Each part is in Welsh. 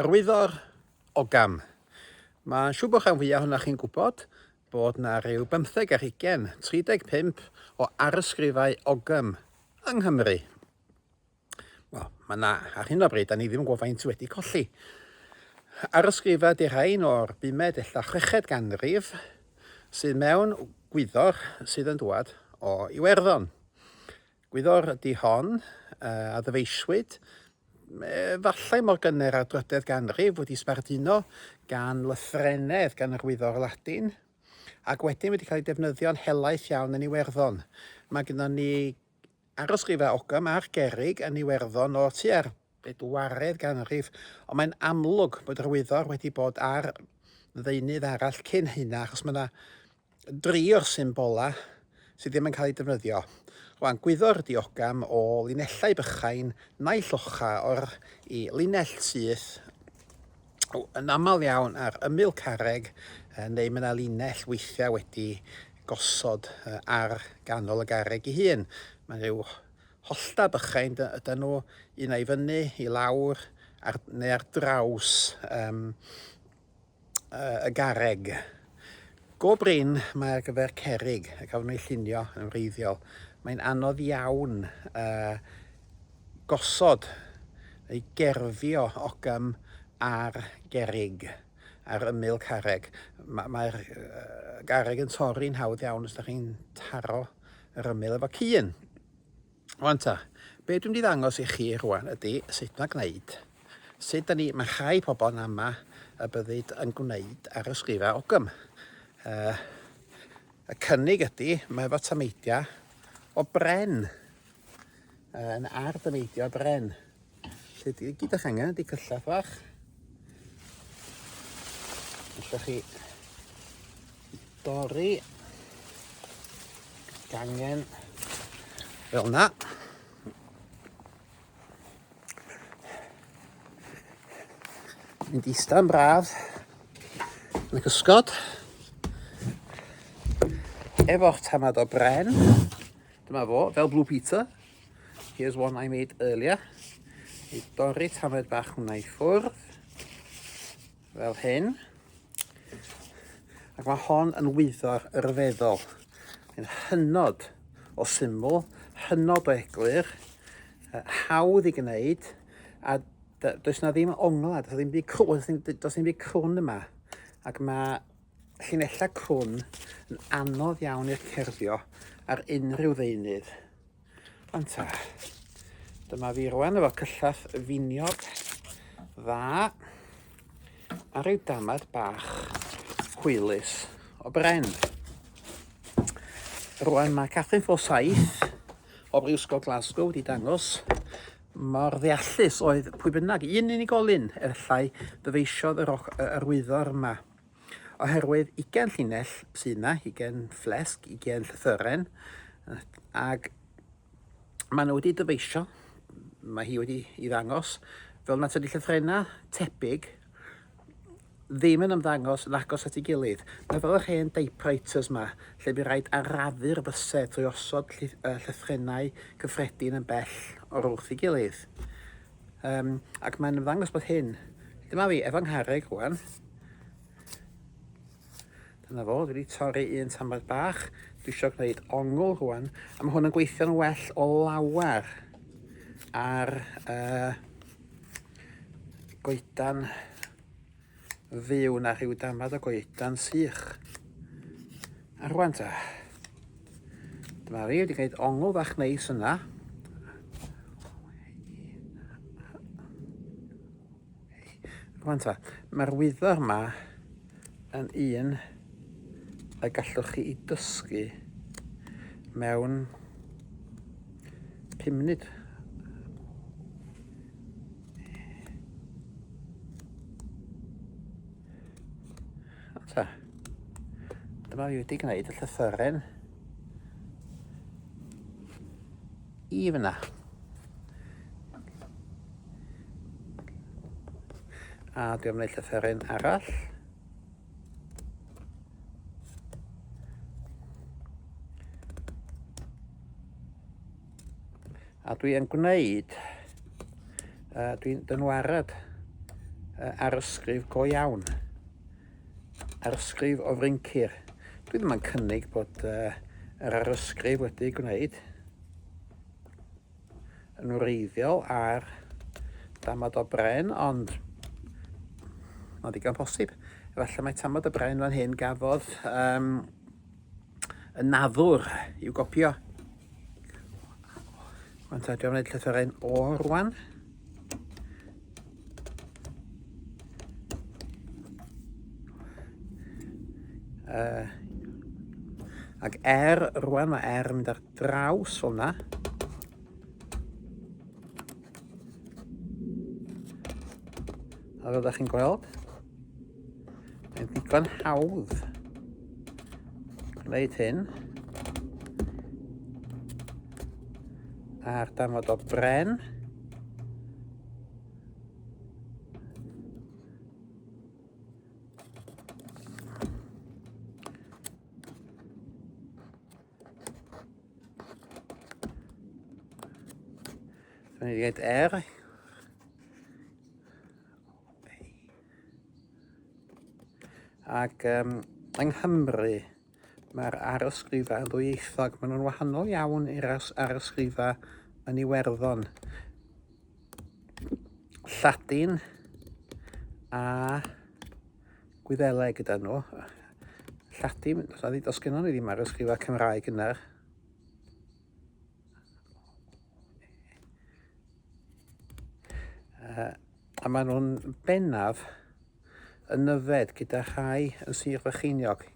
Yr wyddor o gam. Mae'n siŵr bod rhan fwyaf ohonoch chi'n gwybod bod na ryw bymtheg ar hugain, 35 o arysgrifau ogam yng Nghymru. Wel, mae na, ar hyn o bryd, da ni ddim yn gwybod faint wedi colli. Arysgrifau di rhain o'r bumed ella chweched ganrif sydd mewn gwyddor sydd yn dwad o Iwerddon. Gwyddor ydi hon, a ddyfeisiwyd, efallai mor gynnar â'r drydedd ganrif, wedi sbarduno gan lythrennedd gan yr Wyddor Ladin, ac wedyn wedi cael ei defnyddio'n helaeth iawn yn Iwerddon. Mae gyda ni arysgrifau Ogham a'r Gerrig yn Iwerddon o tua'r bedwaredd ganrif, ond mae'n amlwg bod yr wyddor wedi bod ar ddeunydd arall cyn hynna, achos mae yna dri o'r symbolau sydd ddim yn cael eu defnyddio. Rwan, gwyddor ydi ogam o linellau bychain naill ocha o'r i linell syth yn aml iawn ar ymyl carreg, neu mae yna linell weithiau wedi gosod ar ganol y garreg ei hun. Mae'n rhyw Hollta bychain ydyn nhw, un ai fyny, i lawr, ar, neu ar draws um, y garreg. Go brin mae ar gyfer cerig y cafon ei llunio yn wreiddiol. Mae'n anodd iawn uh, gosod neu gerfio ogym ar gerig ar ymyl carreg. Mae'r uh, garreg yn torri'n hawdd iawn os ydych chi'n taro yr ymyl efo cyn. Wan ta, be dwi'n mynd i ddangos i chi rwan ydy sut mae gwneud. Sut da ni, mae rhai pobl yn ama y byddyd yn gwneud ar y sgrifa ogym. Uh, y cynnig ydy, mae efo tameidiau o bren. Uh, yn ar dameidiau o bren. Felly, di, gyda chi angen ydy cyllell fach. Allwch chi dorri gangen fel na. Mynd i stan braf yn y cysgod efo'r tamad o bren. Dyma fo, fel Blue Peter. Here's one I made earlier. I dorri tamaid bach hwnna i ffwrdd. Fel hyn. Ac mae hon yn wyddo'r rhyfeddol. Yn hynod o syml, hynod o eglur, hawdd i gwneud, a does na ddim ongla, does na ddim byd crwn, does na ddim byd crwn yma. Ac mae llinellau crwn yn anodd iawn i'r cerfio ar unrhyw ddeunydd. Ond ta, dyma fi rwan efo cyllall finiog dda a rhyw damad bach hwylus o bren. Rwan mae Catherine Fo 7 o Brifysgol Glasgow wedi dangos mor ddeallus oedd pwy bynnag un unigolyn efallai ddyfeisiodd yr arwyddo yma. Oherwydd ugain llinell sydd yna, ugain fflesg, ugain llythyren, ac maen nhw wedi dyfeisio, mae hi wedi i ddangos, fel na tydi llythrenau tebyg ddim yn ymddangos yn agos at ei gilydd. Mae fel yr hen typewriters yma, lle bu rhaid arafu'r bysedd trwy osod llythrenau cyffredin yn bell o'r wrth ei gilydd. Um, ac mae'n ymddangos bod hyn. Dyma fi, efo nghareg rwan. Dyna fo, dwi wedi torri un tamad bach. Dwi eisiau gwneud ongl rwan. A mae hwn yn gweithio'n well o lawer ar uh, goedan fyw na rhyw damad o goedan sych. A rwan ta, dyma fi wedi gwneud ongl fach neis yna. Rwan ta, mae'r wyddor yma yn un y gallwch chi i dysgu mewn 5 munud. Ta. Dyma fi wedi gwneud y llythyren i fyna. A dwi'n gwneud llythyren arall. A dwi yn gwneud, uh, dwi'n dynwarad uh, ar ysgrif go iawn, ar ysgrif o fryncir. Dwi ddim yn cynnig bod uh, yr arysgrif wedi gwneud yn wreiddiol ar damod o bren, ond mae'n ddigon posib. Efallai mae tamod o bren fan hyn gafodd um, Y naddwr i'w gopio. Ond ta, dwi'n gwneud llythyrau'n o rwan. Uh, ac er, rwan mae er yn mynd ar draws fel yna. A fel ydych chi'n gweld, Mae'n ddigon hawdd gwneud hyn. A'r damod o bren. Dwi'n dweud er, Ac um, yng Nghymru, mae'r arysgrifau yn ddwyieithog. Maen nhw'n wahanol iawn i'r arysgrifau yn Iwerddon. Lladin a Gwyddeleg gyda nhw. Lladin, os gen nhw ddim arysgrifau Cymraeg yna, Uh, A maen nhw'n bennaf yn nyfed gyda rhai yn Sir Frycheiniog.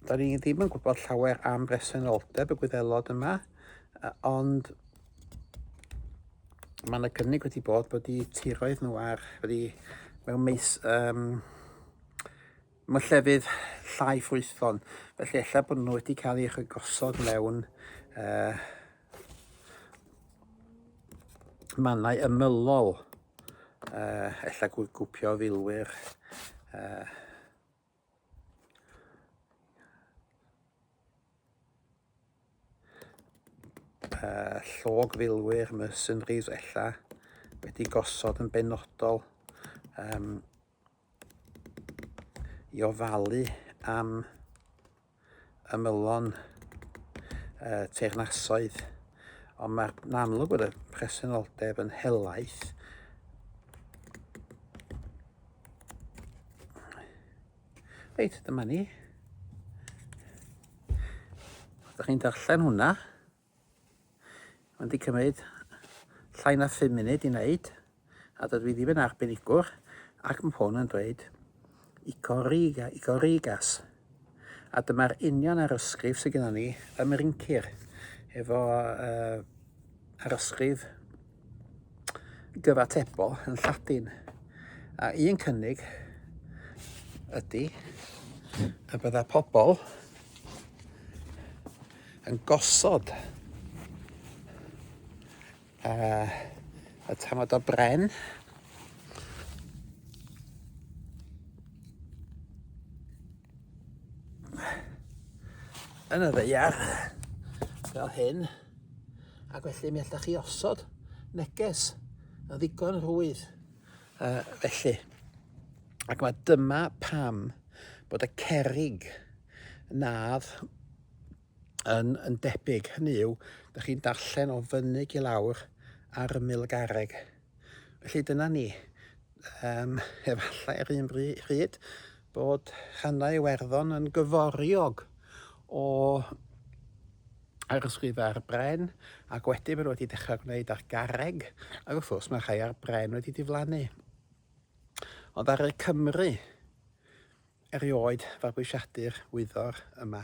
Da ni ddim yn gwybod llawer am bresenoldeb y gwyddelod yma, ond mae yna gynnig wedi bod bod y tiroedd nhw ar wedi mewn meis um, Mae llefydd llai ffrwythlon, felly efallai bod nhw wedi cael eich gosod mewn uh, mannau ymylol, uh, efallai gwpio filwyr, uh, uh, llog filwyr, mercenaries ella, wedi gosod yn benodol. Um, i ofalu am ymylon y teyrnasoedd, ond mae'n amlwg bod y presenoldeb yn helaeth. Reit, dyma ni. Ydych chi'n darllen hwnna? Mae'n di cymryd llai na 5 munud i wneud, a dydw i ddim yn arbenigwr, ac mae hwn yn dweud i Coriga, i Corigas. A dyma'r union arysgrif sydd gennym ni ym Mrincir, efo uh, arysgrif gyfatebol yn Lladin. A un cynnig ydy y bydda pobl yn gosod uh, y tafod o bren. Yn y ddeiar, fel hyn, ac felly mi allwch chi osod neges yn ddigon rwydd. Uh, felly, ac mae dyma pam bod y cerig nad yn, yn debyg. Hynny yw, da chi'n darllen o fyny i lawr ar ymyl y garreg. Felly dyna ni. Um, efallai ar un rhyd bod rhannau Iwerddon yn gyforiog o arysgrifau ar bren ac wedyn maen wedi dechrau gwneud ar garreg ac wrth gwrs mae rhai ar bren wedi diflannu. Ond ar y Cymru, Erioed fabwysiadu'r wyddor yma.